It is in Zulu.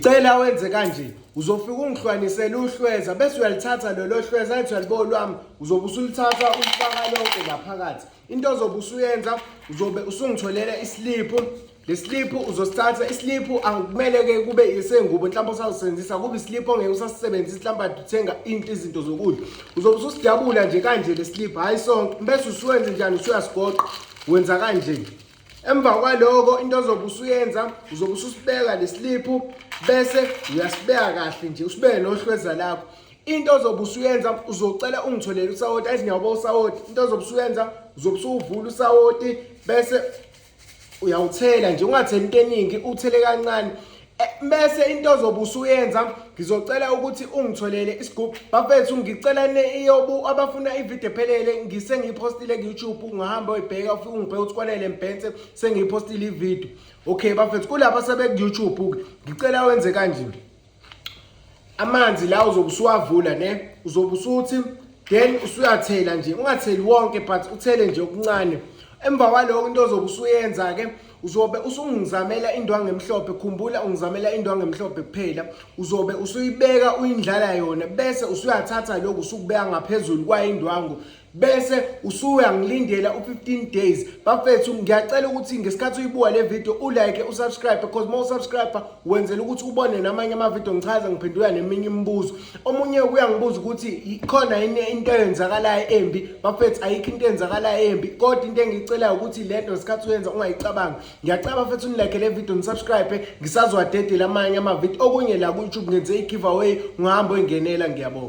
Cela wenze kanje uzofika ungihlwanisele uhlweza bese uyalithatha lelo hlweza ethi uyalibo lwami uzobe usulithatha ulifaka lonke ngaphakathi into ozobe usuyenza uzobe usungitholele isiliphu lesiliphu uzosithatha isiliphu akumele-ke kube isengubo mhlawumbe usazosebenzisa kube isiliphu ongeke usasisebenzisa mhlawumbe ade uthenga into izinto zokudla uzobe ususidabula nje kanje lesiliphu hhayi sonke bese usuwenze njani usuyasigoqa wenza kanje Emva kwaloko into ozobe usuyenza uzobe ususibeka lesiliphu bese uyasibeka kahle nje usibeke nohlweza lakho into ozobe usuyenza uzocela ungitholele usawoti athi ngiyawuba usawoti into ozobe usuyenza uzobe usuvula usawoti bese uyawuthela nje ungatheli into eningi uthele kancane Eh, bese into ozobe usuyenza ngizocela ukuthi ungitholele isigubhu bafethu ngicela neyobu abafuna ivideo ephelele ngise ngiyipostile ku-youtube ungahamba uyibheka ufike ungibheke ukuthi kwanele mbhense sengiyipostile ivideo okay bafethu kulaba sebeku-youtube-ke ngicela wenze kanjini amanzi la uzobe usuwavula ne uzobe usuthi then usuyathela nje ungatheli wonke but uthele nje okuncane emva kwaloko into ozobe usuyenza ke uzobe usungizamela indwangu emhlophe khumbula ungizamela indwangu emhlophe kuphela uzobe usuyibeka uyindlala yona bese usuyathatha lokhu usukubeka ngaphezulu kwayindwangu bese usuyangilindela u15 days bafethu ngiyacela ukuthi ngesikhathi uyibuka le video ulike usubscribe because uma usubscribe wenzela ukuthi ubone namanye ama video ngichaza ngiphendula neminye imibuzo omunye uyangibuza ukuthi ikhona yini into eyenzakalayo embi bafethu ayikho into eyenzakalayo embi kodwa into engiyicelayo ukuthi lento ngesikhathi uyenza ungayicabanga ngiyacaba fethu unilike le video nisubscribe ngisazwadedela amanye ama video okunye la ku YouTube ngenze i giveaway ngihamba engenela ngiyabonga